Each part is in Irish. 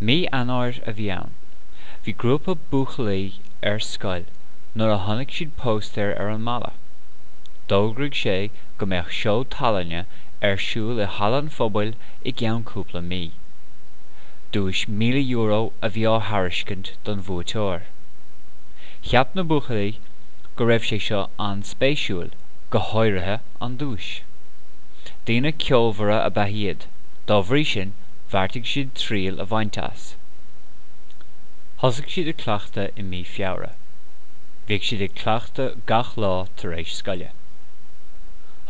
Mí Eanáir a bhí ann. Bhí grúpa buachaillí ar scoil nuair a chonaic siad póstaer ar an mballa. D'fhógraigh sé go mbeadh seó tallainne ar siúl i Halla an Phobail i gceann cúpla mí. Duais €1,000 a bhí á thairiscint don bhuaiteoir. Cheap na buachaillí go raibh sé seo an-spéisiúil, go háirithe an duais. Daoine ceolmhara ab ea iad. Dá bhrí sin bheartaigh siad triail a bhaint as. Thosaigh siad ag cleachtadh i mí Feabhra. Bhíodh siad ag cleachtadh gach lá tar éis scoile.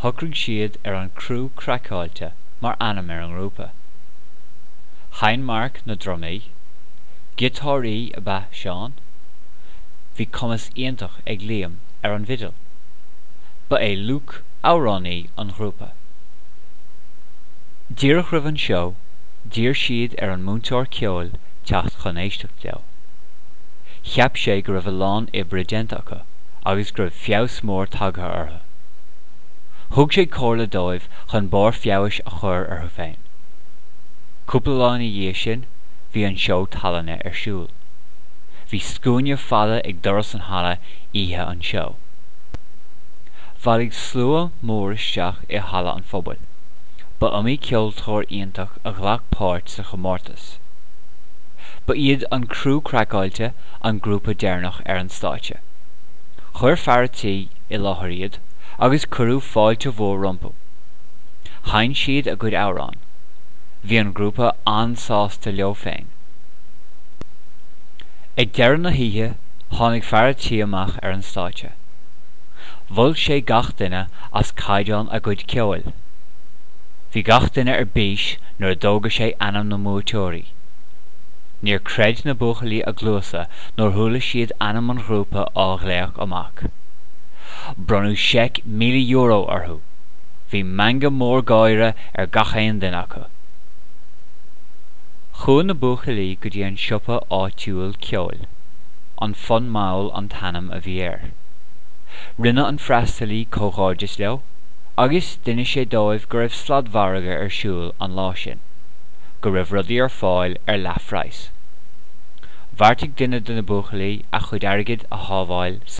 Shocraigh siad ar An Criú Craiceáilte mar ainm ar an ngrúpa. Sheinn Mark na drumaí, giotáraí ab ea Seán, bhí cumas iontach ag Liam ar an bhfidil. Ba é Luke amhránaí an ghrúpa. Díreach roimh an seó, d'iarr siad ar an múinteoir ceoil teacht chun éisteacht leo. Cheap sé go raibh a lán oibre déanta acu agus go raibh feabhas mór tagtha orthu. Thug sé comhairle dóibh chun barr feabhais a chur orthu féin. Cúpla lá ina dhiaidh sin, bhí an seó tallainne ar siúl. Bhí scuaine fada ag doras an halla oíche an seó. Bhailigh slua mór isteach i Halla an Phobail. Ba iomaí ceoltóir iontach a ghlac páirt sa chomórtas. Ba iad An Criú Craiceáilte an grúpa deireanach ar an stáitse. Chuir Fear an Tí i láthair iad agus cuireadh fáilte mhór rompu. Sheinn siad a gcuid amhrán. Bhí an grúpa an-sásta leo féin. Ag deireadh na hoíche tháinig Fear an Tí amach ar an stáitse. Mhol sé gach duine as caighdeán a gcuid ceoil. Bhí gach duine ar bís nuair a d'fhógair sé ainm na mbuaiteoirí. Níor creid na buachaillí a gcluasa nuair a chuala siad ainm an ghrúpa á ghlaoch amach. Bronnadh seic míle euro orthu. Bhí meangadh mór gáire ar gach aon duine acu. Chuaigh na buachaillí go dtí an siopa áitiúil ceoil. An Fonn Mall an t-ainm a bhí air. Rinne an freastalaí comhghairdeas leo agus d'inis sé dóibh go raibh sladmhargadh ar siúl an lá sin, go raibh rudaí ar fáil ar leathphraghas. Bheartaigh duine de na buachaillí a chuid airgid a shábháil sa.